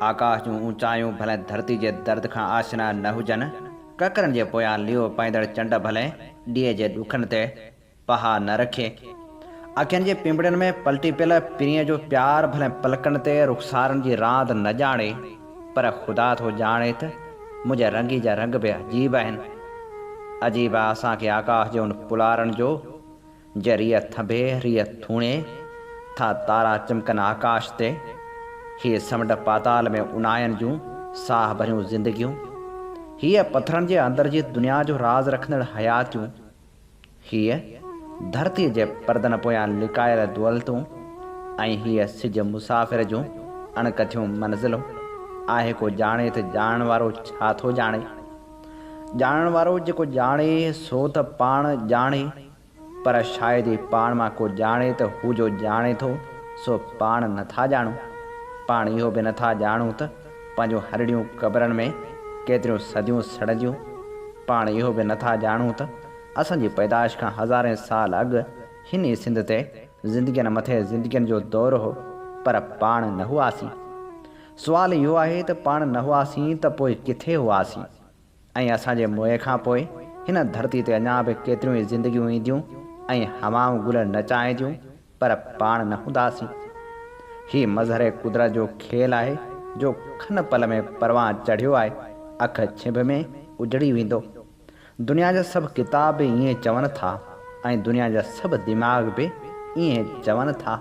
آڪاش جون اوچايون ڀلي ڌرتي جي درد کان آشنا نه هجن، ڪڪرن جي پويان ليئو پائيندڙ چنڊ ڀلي ڏيئي جي ڏکن تي پها نه رکي، اکين جي پنبڙين ۾ پلٽي پيل پرينء جو پيار ڀلي پلڪن تي رخسارن جي راند نه ڄاڻي، پر خدا ٿو ڄاڻي ته منهنجي رنگي جا رنگ به عجيب آهن. عجيب آ اسان کي آڪاش جي ان پلارڻ جو، جي ريء ٿنڀي، ريء ٿوڻي ٿا تارا چمڪن آڪاش تي. هيء سمنڊ پاتال ۾ اونهاين جون ساهه ڀريون زندگيون. هيء پٿرن جي اندر جي دنيا جو راز رکندڙ حياتيون. هيء ڌرتيء جي پردن پويان لڪايل دولتون ۽ هيء سج مسافر جون اڻڪٿيون منزلون، آهي ڪو ڄاڻي ته ڄاڻڻ وارو ڇا ٿو ڄاڻي؟ ڄاڻڻ وارو جيڪو ڄاڻي سو ته پاڻ ڄاڻي، پر شايد ئي پاڻ مان ڪو ڄاڻي ته هو جو ڄاڻي ٿو سو پاڻ نٿا ڄاڻون، پاڻ اهو به نٿا ڄاڻون ته. پنهنجون هرڙيون قبرن ۾ ڪيتريون صديون سڙنديون، پاڻ اهو به نٿا ڄاڻون ته اسان جي پيدائش کان هزارين سال اڳ هن ئي سنڌ تي زندگين مٿي زندگين جو دور هو پر پاڻ نه هئاسين. سوال اهو آهي ته پاڻ نه هئاسين ته پوء ڪٿي هئاسين؟ ۽ اسان جي موئي کان پوء هن ڌرتي تي اڃا به ڪيتريون ئي زندگيون اينديون ۽ هوائون گل نچائينديون پر پاڻ نه هونداسين. هي مظهر قدرت جو کيل آهي جو کن پل ۾ پروان چڙهيو آهي اک ڇنڀ ۾ اجڙي ويندو. دنيا جا سڀ ڪتاب به ائين چون ٿا ۽ دنيا جا سڀ دماغ به ائين چون ٿا.